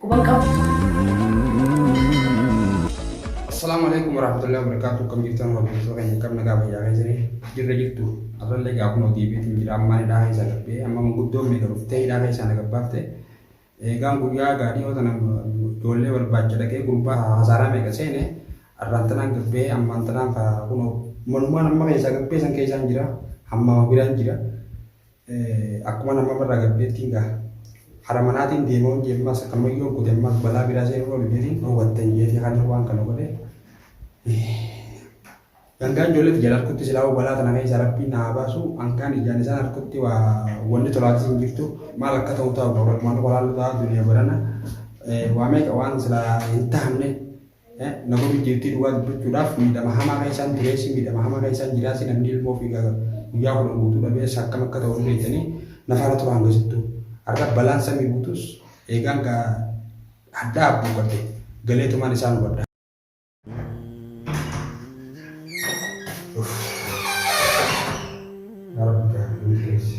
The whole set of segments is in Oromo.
Quban qabu. Assalamu alaikum warahmatullahi wabarakatuh kam jirtan hordoftoota keenya kam nagaa fayyaa keessanii jirra jirtu arrallee egaa kunoo deebiitiin jira ammaan hidhaa keessaa gabbee amma manguddoon meeqa dhuftee hidhaa keessaa na gabbaafte eegaan guyyaa gaadhii yoo tana ijoollee barbaacha dhaqee gurbaa hasaaraa meeqa seene arraan tanaan gabbee ammaan tanaan kunoo manumaan amma keessaa gabbee san keessaan jira hammaa biraan jira Akkuman amma barraa gabbeettiin gaa hara manaatiin deema hojii ammas akkanuma yoo godhe ammas balaa biraa seenuu oolu jedhee dhowwattan jeetii kan waan kana godhe. Gangaan ijoollee tiyya harkutti silaa balaa tana keessa rabbiin na haa baasu hangaan ijaan isaan harkutti waa wanni tolaatis hin jirtu maal akka ta'u ta'u qaba walumaan qolaan ta'aa duniyaa barana waa meeqa waan silaa hin tahamne Namoonni dhiirtii dhugaa dubbachuudhaaf miidhama hamaa kan isaan tureessi miidhama hamaa kan isaan jiraasi namni ilmoo fi guyyaa kudhan guutuu dhabees akkam akka ta'u beekanii nafaara tura hanga sittuu. Har'a balaan samii buutus eegaan gaa hadhaa abbuu qabde galeetumaan isaan hubadha. Rabbi gaa milkeessi.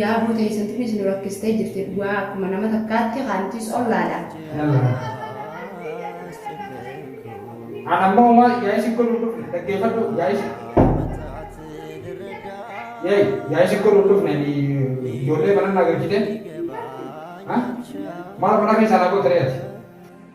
Yaabuu teessatiinis nu rakkistee jirti dhugaa akkuma nama takkaatti kaantiis ollaadha. An amma homaa yaa'ii si godhuun dhufne dhaggeeffadhu yaa'ii si. Yaa'ii yaa'ii si godhuun dhufne ijoollee mana naa galchite. Maal mana keessaa naa goote re'ati?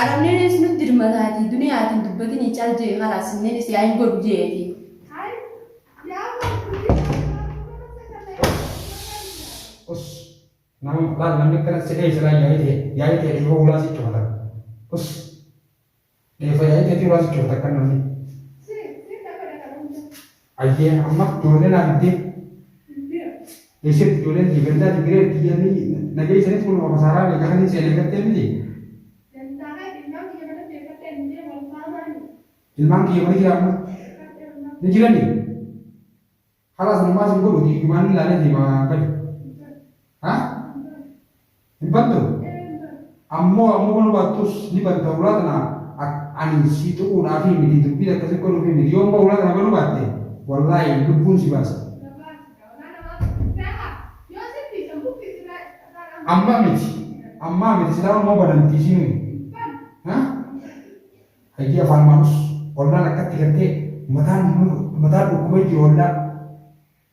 Arabneen ees nutti dirmataatii duniyaatiin dubbatinii cal jee kalaas sinneenis yaa hin godhu jeetii. Us. Nama laal namni akkana si dhee silaa yaa'ii ta'e yaa'ii ta'e dhiifa ulaa si cufata. Us. Dhiifa yaa'ii ta'e ulaa si cufata akka namni. Ayyee amma ijoollee naa fiddee. Eesseetti ijoolleen tiyya gandaa digiree tiyyanii na geessanis kun ofa saaraa bee garan hin seenee gattee miti. Ilmaan kiyya mana jira amma. Ni jirani. Halaas homaa sin godhuti ijumaan hin laalee deema gadi. Ha? Hin baddau? Ammoo ammoo mal baattus ni badda hulaa tana ak ani sii xuquudhaafii miti dubbiin akkasi godhuufii miti yoo ammoo hulaa tana banu baatte wallaahi lubbuun si baasa. Amma miti ammaa miti silaa ammoo banamti isiinuu ha hayyii afaan maalus ollaan akkatti gartee mataan mataan dhukkubee jiru ollaa